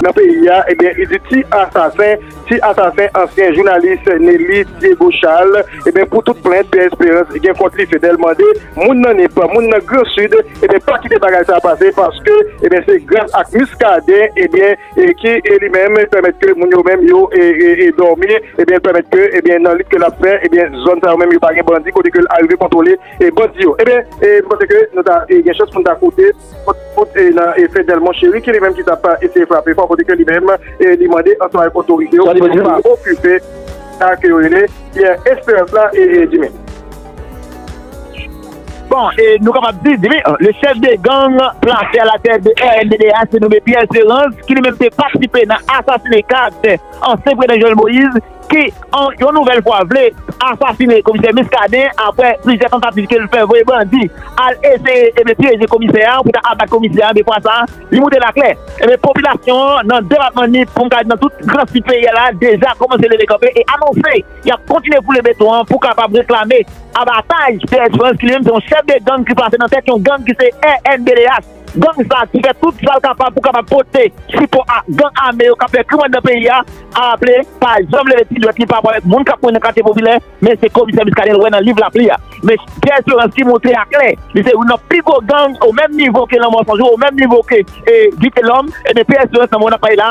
Nan peyi a, ebyen li di ti asasen, ti asasen ansyen jounalis Nelly Diego Charles, ebyen pou tout plent Pierre Espérance gen kont li Fedel mande moun nan Nip, moun nan gran Sid ebyen pa kite bagay sa pase paske ebyen se gras ak Muscadin ebyen. e ki li menm pèmèt ke moun yo menm yo dòmi, ebyen pèmèt ke ebyen nan lit ke lap fè ebyen zòn sa yo menm yo pa gen bandi kote ke l arive kontwole bandi yo ebyen m panse ke nou ta gen chans pou n ta koute kont e nan e Fednel Monchéry ki li menm ki tap eseye frape fò kote ke li menm e li mande ansanm avèk otorite yo pou yo pa okipe sa ke yo rele Pierre Esperance la e Jimmy. Bon, e nou kapab di, di byen, le chèf de gang plase a la tèt de rnddh se nome Pierre Serance ki li menm te patisipe nan asasine karaktè ansyen prezidan Jovenel Moïse ki an yon nouvèl fwa vle asasine komisè Muscadin aprè plizyè tantativ ke li fè voye bandi al eseye e byen pyeje komisè a pou ta abat komisè a e byen fwa sa a li moute la klè e byen popilasyon an nan depatman Nip pou m ka di nan tout gran sid peyi a la deja kòmanse leve kanpe e anonse y ap kontinye foule beton an pou kapab reklame abataj P-S Frantz ki li menm se yon chèf de gang ki plase nan tèt yon gang ki se rnddh. Gang sa ki fè tout sa l kapab pou kapab pote sipò a gang ame yo k ap fè krim anndan peyi a aple pa janm leve ti dwèt li pa rapò avèk moun k ap mouri nan katye popilè men se komisè Muscadin wè nan liv lapli a men P-S Frantz ki montre a klè li se youn nan pi gwo gang o menm nivo ke Lanmò Sanjou o menm nivo ke Vitelhomme e ben P-S Frantz nan moman n ap pale la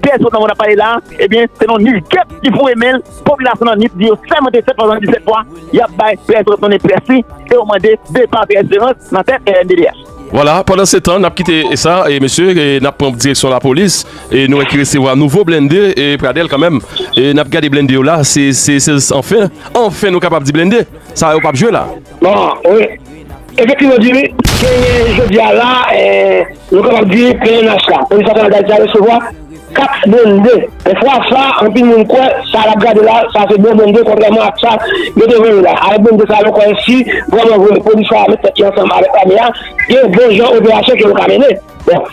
Pyès lòt nan mond ap pale la a, ebyen se nan nich gèp li foure men l, popilasyon nan Nip di yo sèmante 7 fwa nan 17 fwa yap bay pyès lòt nonnen pyès li e yo mande depa pyès Jeran nan tèt rnddh. Vwala, pandansetan nap kite sa e mesye e nap pran direksyon lapolis e nou wè ki resevwa nouvo blende e Pradel kanmenm e nap gade blende yo la se se se anfen anfen nou kapab di blende sa yo pap jwe la. Bon, wi. Efektivman, Djimi, genyen jodi a la, nou kapab di pnh la, Polis Nasyonal Dayiti a resevwa 4 blende. E fwa sa, anpil moun kwè sa n ap gade la, sa se bon blende kontrèman ak sa yo te vann yo la. Avèk blende sa yo, nou kwè si vrèman vre polis sa a met tèt li ansanm avèk lame a, gen bon jan operasyon ke yo ka mennen. Bon,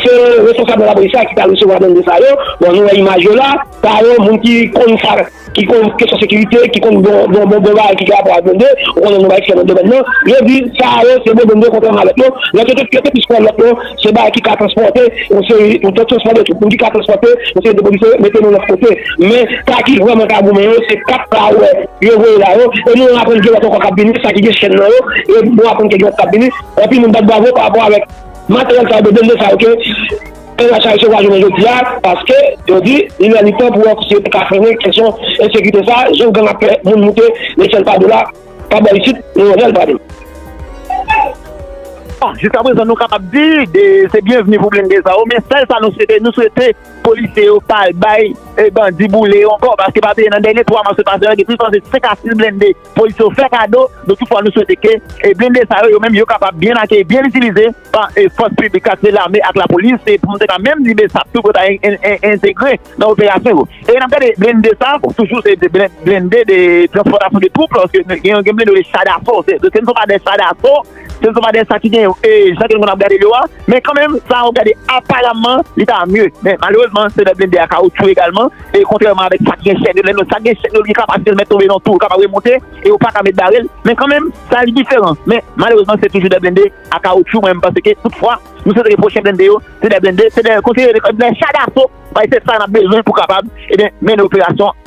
se responsab nan lapolis la ki pral resevwa blende sa yo. Bon, nou wè imaj yo la. Sa yo, moun ki konn sa. ki konn kesyon sekirite, ki konn bon bon bon bagay ki gen rapò ak blende, ou konnen nou bay eksèl nan domèn nan, yo di sa yo se bon blende kontrèman a lòt yo, lòt yo te yo te plis pran lòt yo se bagay ki ka transpòte yon seri yon ton transfè de twoup, moun ki ka transpòte yon seri de polisye mete nou lòt kote. Men sa ki vrèman ka goumen yo se 4 sa ou wè yo voye la yo, e nou aprann gen lòt ankò k ap vini, sa ki gen chèn nan yo, e nou aprann ke gen lòt k ap vini, anpil moun bat bravo parapò avèk materyèl sa yo, de blende sa yo ke. Pè Lach Ayisyen sa jounen jodi a paske yo di li lè li tan pou wè si yo te ka frennen kesyon ensekirite sa a jan gang ap fè moun moute lechèl pa dola pa bò isit nou wè lè l pral. Bon jiskaprezan nou kapab di se byenvni pou blende sa yo men sèl sa nou swete nou swete polisye yo pa al bay bandi boule yo ankò paske pa bliye nan dènye 3 mas yo pase la gen plis pase 5 a 6 blende Polis yo fè kado nou toufwa nou swete ke blende sa yo yo menm yo kapab byen akeyi, byen itilize pa fòs piblik sa ki se lame ak lapolis e pou nou te ka menm di bsap tou pou yo ta entegre nan operasyon yo e nap gade blende sa bon toujou se blende de transpòtasyon de twoup lòske gen blende yo rele cha daso se nou se pa de cha daso. Se sou Madè sa ki gen yo e jan ke nou konn ap gade yo a, men kanmenm sa a ou gade aparamman li ta mye. Men malerezman se lè blende a kawoutchou egalman e kontrèman avèk sa ki gen chèn yo, lè nou sa ki gen chèn yo li gen kapasite li mèt tonbe nan tou, li kapab remonte e yo pa ka mèt bare l, men kanmenm sa a li diferan. Men malerezman se toujou dè blende a kawoutchou mwen menm panse ke tout fwa nou swete ke pwochen blende yo se dè blende, se dè konseye, dè cha daso, bay se sa n ap bezwen pou kapab, ebyen mennen operasyon.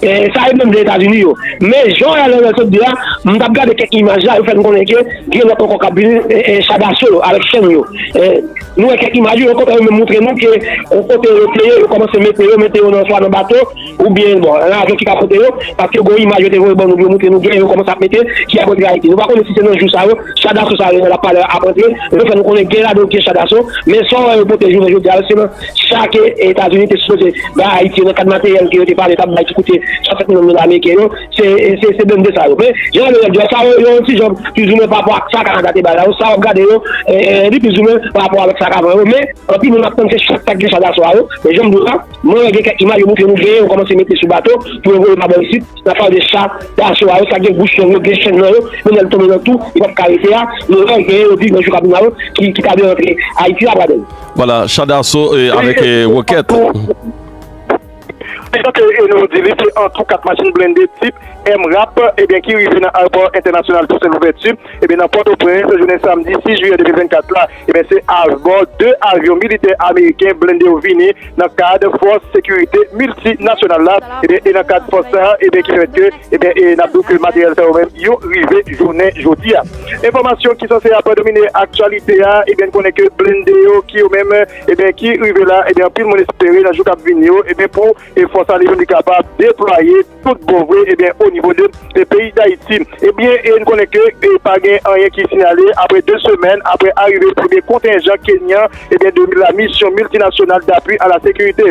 Sa yo menm de Etazini yo. Men jan Ryan Laurel sot di a, m tap gade kèk imaj la, yo fè n konnen ke gen lòt ankò kap vini char daso yo avèk chèn yo. Nou wè kèk imaj wi, yo kontan yo menm moutre nou ke yon kote yo te ye, yo kòmanse mete yo, mete yo nan swa nan bato oubyen bon nan avyon ki ka pote yo, paske gon imaj yo te voye ban nou pou yo moutre nou gen yo kòmanse ap mete ki ap antre Ayiti. Nou pa konnen si se nan jou sa yo cha daso sa yo Ryan lap pale a ap antre, men yo fè nou konnen gen ladan yo ki se cha daso, men sa w wè yo pote jounen jodi a yo se nan sa ke Etazini te sipoze bay Ayiti yo nan kad materyèl ke yo te pale tap bay ki koute 60 milyon dola ameriken yo, se blende sa yo. Men, jan Averèd di a, sa yo yon ti jan plizoumwen pa rapò ak sa Kanada te bay la yo, sa wap gade yo li plizoumwen pa rapò avèk sa k avan yo, men anpil moun ap tann se chak sak gen chak aswè a yo, men janm di w la, mwen wè gen kèk imaj yo moutre nou genyen yo kòmanse mete sou bato pou yo voye pa bò isit, nap pale de cha daso a yo, sa gen bouch long yo, gen chenn nan yo, men lè l tonbe nan tou, li pap ka rete a, nou wè genyen yo di nan jou kap vini la yo ki ta vle rantre Ayiti la pradèy. Voilà, cha daso avèk wokèt. Etan ke nou di li se an tou 4 machin blende tip MRAP ebyen ki rive nan Ayopò Entènasyonal Tousen Louvèti ebyen nan Pòtoprens jounen samdi 6 jiyè 2024 la ebyen se abò 2 avyon militè ameriken blende yo vini nan kad fòs sekirite miltinasyonal la ebyen e nan kad fòs sa a ebyen ki fè ke Ebyen e nap diw ke materyèl sa yo menm yo rive jounen jodi a. Enfòmasyon ki sanse ap domine aktyalite a ebyen n konnen ke blende yo ki yo menm ebyen ki rive la ebyen anpil moun espere nan jou kap vini yo ebyen pou fòs ale yo li kapab deplwaye tout bon vre ebyen o nivo de peyi dayiti. Ebyen e n konnen ke e pa gen anyen ki sinyale apre 2 semèn apre arive premye kontenjan kenyan ebyen de la misyon miltinasyonal dapwi a la sekirite.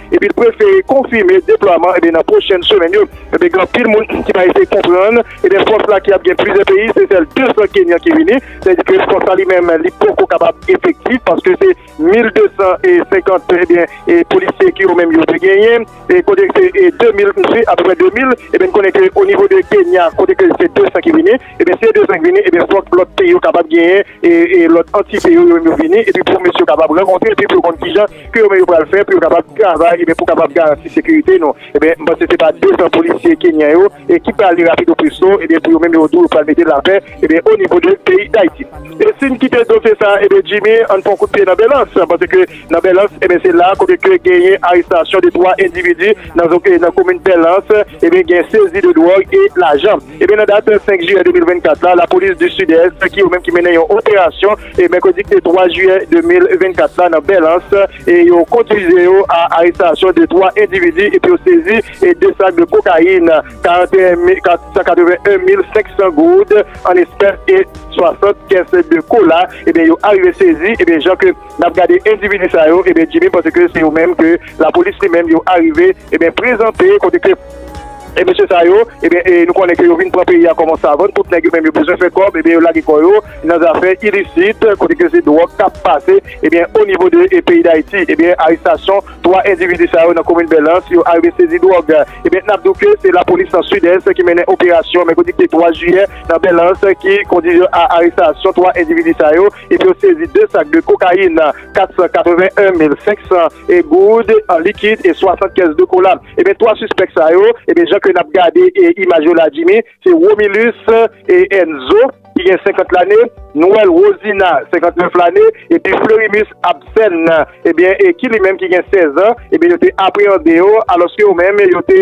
epi l prefere konfime deplwaman e nan pwochen semèn yo e gen anpil moun ki pa eseye konprann e gen fòs la ki ap gen plizyè peyi se sèl 200 kenyan ki vini sa di ke fòs la li menm li poko kapab efektif paske se 1250 e gen e polisye ki yo menm yo te genyen e kote se 2000 msi apeprè 2000 e ben konnen ke o nivo de kenya kote ke se 200 ki vini. Ebyen si yo te zank vini ebyen fòk lòt peyi yo kapab genyen lòt antite yo menm yo vini epi pou mesye yo kapab rankontre epi pou yo konn kijan ke yo menm yo pral fè pou yo kapab travay ebyen pou kapab garanti sekirite nou ebyen m panse se pa 200 polisye kenyan yo ki prale rapido presto ebyen pou yo menm yo di yo pral mete lapè ebyen onivo de peyi dayiti. E si n kite dosye sa a ebyen Jimmy ann pran kout pye nan Belans panse ke nan Belans ebyen se la kote ke genyen arestasyon de 3 endividi nan komin Belans ebyen gen sezi de dwòg e lajan. Ebyen nan dat 5 jiyè 2024 la, lapolis du Sud-Est ki yo menm ki mennen yon operasyon e mèkredi ki te 3 jiyè 2024 la nan Bèlans e yo kondwize yo a arestasyon de 3 endividi epi yo sezi 2 sak de kokayin, 41 mil 181 mil 500 goud an espès e 60 kès de kola ebyen yo arive sezi ebyen jan ke nap gade endividi sa yo ebyen Djimy panse ke se yo menm ke lapolis li menm yo arive Ebyen prezante kote ke e mesye sa yo ebyen e nou konnen ke yo vin pran peyi a kòman savann tout nèg yo menm yo bezwen fè kòb ebyen yo lage kò yo nan zafè ilisit kote ke se dwòg kap pase ebyen o nivo de e peyi dayiti ebyen arestasyon 3 endividi sa yo nan komin bèlans yo arive sezi dwòg ebyen nap di w ke se lapolis nan sidès ki mennen operasyon mèkredi ki te 3 jiyè nan bèlans ki kondi a arestasyon 3 endividi sa yo. epi yo sezi 2 sak de kokayin, 481 mil 500 goud an likid e 60 kès de kola. Ebyen 3 sispèk sa yo, ebyen jan ke nap gade imaj yo la Jimmy, se Romilus Enzo ki gen 50 lane, Noël Rosina 59 lane epi Fleurimus Absen ebyen ki li menm ki gen 16 an, ebyen yo te apreyande yo alòske yo menm yo te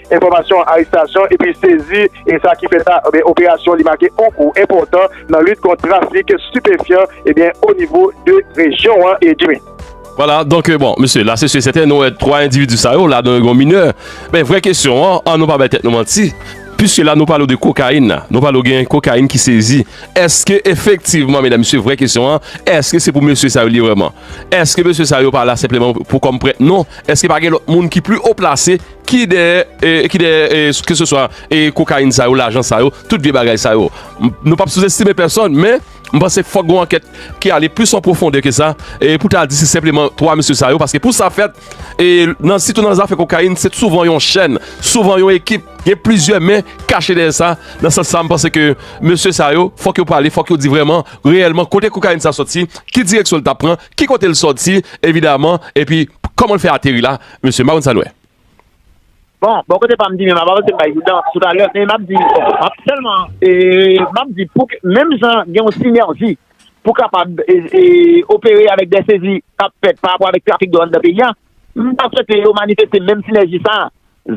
enfòmasyon arestasyon epi sezi e sa ki fè sa ebyen operasyon li make on kou enpòtan nan lit kont trafik stipefyan ebyen o nivo de rejyon an e Jimmy. Vwala donk bon mesye la se si e sèten nou wè 3 endividi sa yo ladan yo gen yon minè men vrè kesyon an an nou pa bay tèt nou manti piske la nou pale de kokayin la nou pale gen kokayin ki sezi èske efektivman medam mesye vrè kesyon an èske se pou mesye sa yo li ye vrèman èske mesye sa yo pa la senpleman pou kòm prèt non èske pa gen lòt moun ki pli o plase Ki dèyè e ki dèyè e ke se swa e kokayin sa yo, lajan sa yo, tout vye bagay sa yo. Nou pap souzestime pèsòn men m panse fòk gon ankèt ki ale plis an pwofondè ke sa e pou ta di se senpleman 3 mesye sa yo paske pou sa fèt e nan sitou nan zafè kokayin se souvan yon chèn, souvan yon ekip, gen plizyè men kache dèyè sa. Nan sans sa m panse ke mesye sa yo fòk yo pale, fòk yo di vrèman, reyèlman kote kokayin sa sòti, ki direksyon l ta pran, ki kote l sòti evidaman epi kòman l fè ateri la. Mesye, m pa konn sa n wè. Bon, bò kote pa m di menm apa pase m bay joudan toutalè, men m ap di m ap sèlman m ap di pou menm jan gen yon sinèji pou kapab opere avèk dè sezi k ap fèt parapò avèk trafik dwòg anndan peyi a, m ta swete yo manifeste menm sinèji sa a,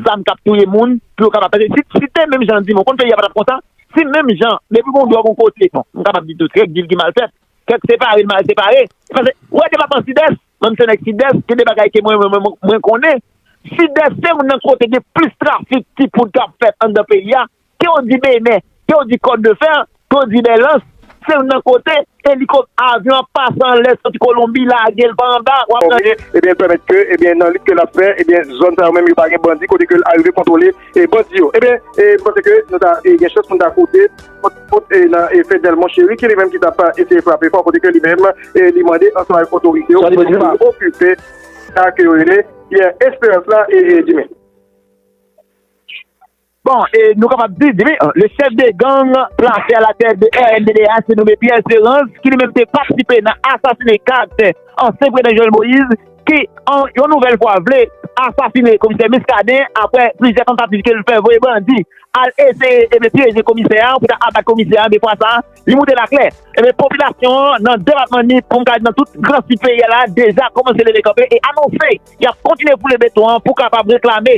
zam k ap touye moun pou yo kapab pase si te menm jan di m ou konn peyi a pa t ap konsa si menm jan depi gon dwòg yon kote bon m kapab di tou kèk dil ki mal fèt kèk separe l mal separe pase wè depatman Sidès. Menm se nèg sidès gen de bagay ke mwen konnen, sidès se youn nan kote gen plis trafik ti poud kap fèt anndan peyi a, ke w di benè, ke w di kòt de fè, ke w di bèlans, se youn nan kote elikop, avyon ap pase anlè soti kolonbi lage l pa anba wap gade. Fòmye ebyen pèmèt ke ebyen nan lit ke lap fè ebyen zòn sa yo menm yo pa gen bandi kote ke l arive kontwole bandi yo ebyen mwen panse ke nou ta gen chans pou nou ta koute. Kote nan Fednel Monchéry ki li menm ki t ap eseye frape fò kote ke li menm li mande ansanm avèk otorite yo pou yo pa okipe sa ke yo rele Pierre Esperance la Jimmy. Bon, e nou kapab di Jimmy, le chef de gang plase a la tèt de rnddh se nome Pierre Esperance ki li menm te patisipe nan asasine 4 ansyen prezidan Jovenel Moïse. ki yon nouvèl fwa vle asasine komisè Muscadin apre plizyè tantativ ke l fè voye bandi al eseye ebyen pyeje komisè a pou ta abat komisè a ebyen fwa sa li moute laklè ebyen popilasyon an nan depatman Nip pou m ka di nan tout gran sid peyi a la deja kòmanse leve kanpe e anonse y ap kontinye foule beton an pou kapab reklame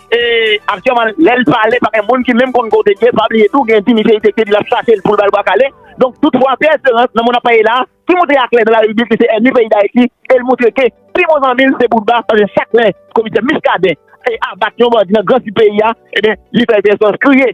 E aktyèman lèl pale pa gen moun ki menm konn kote li ye, pa bliye tou gen di misye enfekte di lap chachel poul bal bwa kale. Donk tout fwa Pierre Esperance nan moun ap pale la a ki moutre aklè nan laribib li se ènmi peyi Dayiti el moutre ke pi bon zanmil se Boutba paske chak lè komisè Muscadin e abat yon bandi nan gran sid peyi a ebyen li fè Pierre Esperance kriye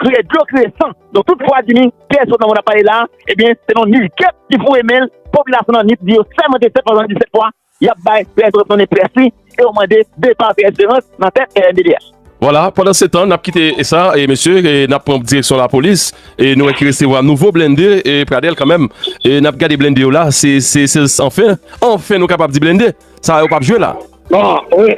kriye dlo kriye san. Donk tout fwa di ni Pierre Esperance nan moun ap pale la a ebyen se nan nil kep li foure menl popilasyon nan nip di yo sèmante 7 fwa zanmi di 7 fwa. Yap bay Pè Esperance one près li e yo mande depa Pè Esperance nan tèt rnddh. Vwala, pandan se tan nap kite sa e mesye e nap pran direksyon lapolis e nou wè ki resevwa nouvo blende e pradèl kanmenm e nap gade blende yo la se se se anfen anfen nou kapab di blende sa yo pap jwe la. Bon wi.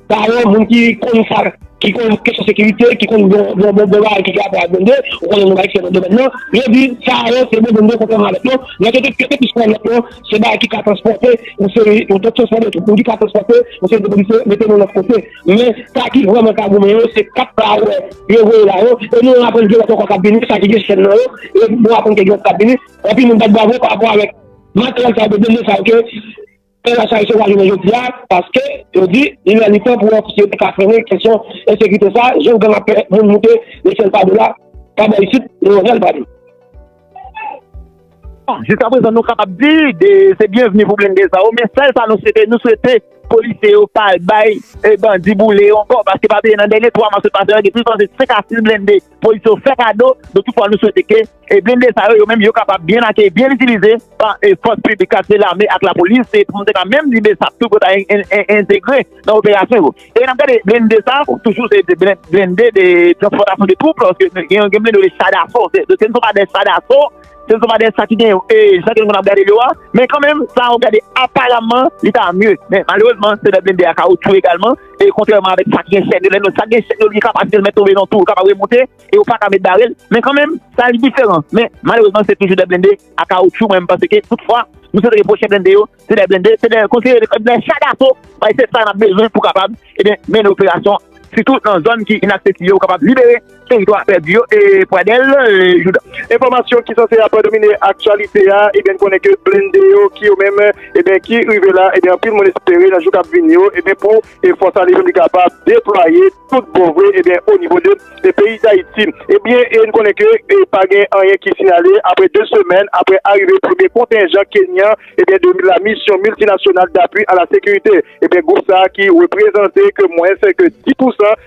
Sa yo moun ki konn sa, ki konn kesyon sekirite, ki konn bon bagay ki gen rapò ak blennde, ou konnen nou bay eksèp nan domèn nan, yo di sa yo se bon blennde kontrèman a lòt yo. Lòt yo te plis pran lòt yo se bagay ki ka transpòte yon seri yon tòt chòsman de twoup, moun ki ka transpòte yon seri de polisye mete nou lòt kote. Men sa ki vrèman ka goumen yo se 4 sa ou wè yo voye la yo e nou aprann gen lòt ankò k ap vini, sa ki gen chèn nan yo e nou aprann ke gen lòt k ap vini. Anpil moun bat bravo parapò avèk materyèl sa yo, blennde sa yo ke. Pè Lachaise yo pa jounen jodi a paske yo di li lè li tan pou yon sosyete ka frennen kesyon ensekirite sa a, jan gang ap fè moun moute lechèl pa do la, pa bò isit, nan yon rèl pa do. Bon, jiska prezan nou kapab di se byenvni pou blende sa yo, men sèl sa nou swete, nou swete polisye yo pa al bay bandi boule yo ankò paske pa bliye nan dènye 3 mwa sot pase yo gen plis pase 5 a 6 blende Polis yo fè kado de tout fwa nou swete ke blende sa yo yo menm yo kapab byen akeyi, byen itilize pa fòs piblik sa se lame ak lapolis se pou nou te ka menm di besap tou pou yo ta entegre nan operasyon yo e nap gade blende sa toujou se blende de transpòtasyon de twoup lòske gen yon gen blende yo rele cha daso se nou se pa de cha daso se nou se pa de cha ki gen yo e jan ke nou ap gade l yo a men kanmenm sa ou gade aparamman li ta mye men malerezman se de blende a kawoutchou egalman. E kontrèman avèk sa ki gen chèn yo, lè nou, sa ki gen chèn yo li gen kapasite l men tonbe nan tou, l kapab remonte e yo pa ka met bare l, men kanmenm, sa li diferan. Men, malerezman se toujou 2 blende a kawoutchou mwen m panse ke tout fwa, nou swetre ke pwochen blende yo, se 2 blende, se 2, konsidere ke 2 cha daso, bay se sa n ap bezwen pou kapab, ebyen, mennen operasyon, sitou nan zòn ki inaksesib yo, ou kapab libere. Teritwa pèdi yo e Pradel Jouda. Enfòmasyon ki sanse ap domine aktyalite a ebyen n konnen ke blende yo ki yo menm ebyen ki rive la ebyen anpil moun espere nan jou kap vini yo ebyen pou fòs ale yo li kapab deplwaye tout bon vre ebyen o nivo de peyi Dayiti ebyen e n konnen ke e pa gen anyen ki siyale apre 2 semèn apre arive premye kontenjan kenyan ebyen de la misyon miltinasyonal dapwi a la sekirite ebyen gwoup sa ki reprezante ke mwens ke 10 pousan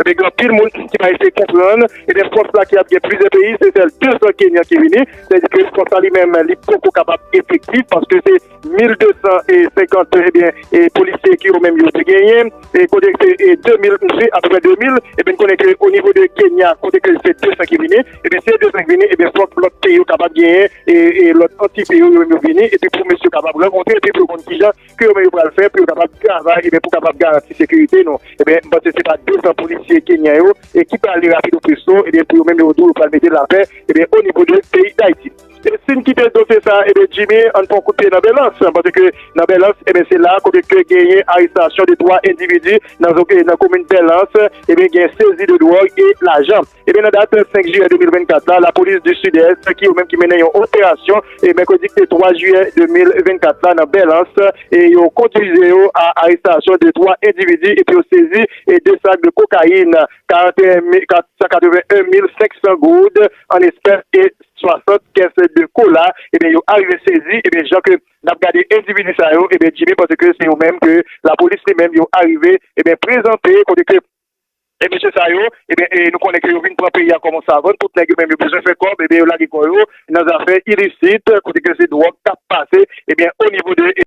Ebyen gen anpil moun ki pa eseye konprann, ebyen fòs la ki ap gen plizyè peyi se sèl 200 kenyan ki vini, se di ke fòs la li menm li poko kapab efektif paske se 1250 ebyen polisye ki yo menm yo te genyen e kote se 2000 msi apeprè 2000 ebyen n konnen ke o nivo de kenya kote ke se 200 ki vini ebyen si e 200 ki vini ebyen fòk lòt peyi yo kapab genyen e lòt antite yo yo menm yo vini epi pou mesye yo kapab rankontre epi pou yo konn kijan ke yo menm yo pral fè pou yo kapab travay e ben pou kapab garanti sekirite nou. E ben m panse se pa 200 polisye kenyan yo e ki prale rapido presto e ben pou yo menm yo tou yo pral mete lapè e ben o nivo de peyi Dayiti. E si n kite dosye sa e ben Jimmy an n pran kout pye nan Bèlans panse ke nan Bèlans e ben se la kote ke genyen arestasyon de 3 endividi nan komin Bèlans e ben gen sezi de dwòg e lajan. Ebyen nan dat 5 jiyè 2024 la, lapolis di Sidès ki yo menm ki mennen yon operasyon e mèkredi ki te 3 jiyè 2024 la nan Bèlans e yo kondwize yo a arestasyon de 3 endividi epi yo sezi e 2 sak de kokayin, 481 mil 500 goud an espès e 60 kès de kola ebyen yo arive sezi ebyen jan ke nap gade endividi sa yo ebyen Jimmy panse ke se yo menm ke lapolis li menm yo arive ebyen prezante kote ke. E mesye sa yo, ebyen e nou konnen ke yo vin pran peyi a kòm on savann, tout nèg yo menm yo bezwen fè kòb, ebyen yo lage kò yo nan zafè ilisit, kote ke se dwòg kap pase, ebyen o nivo de.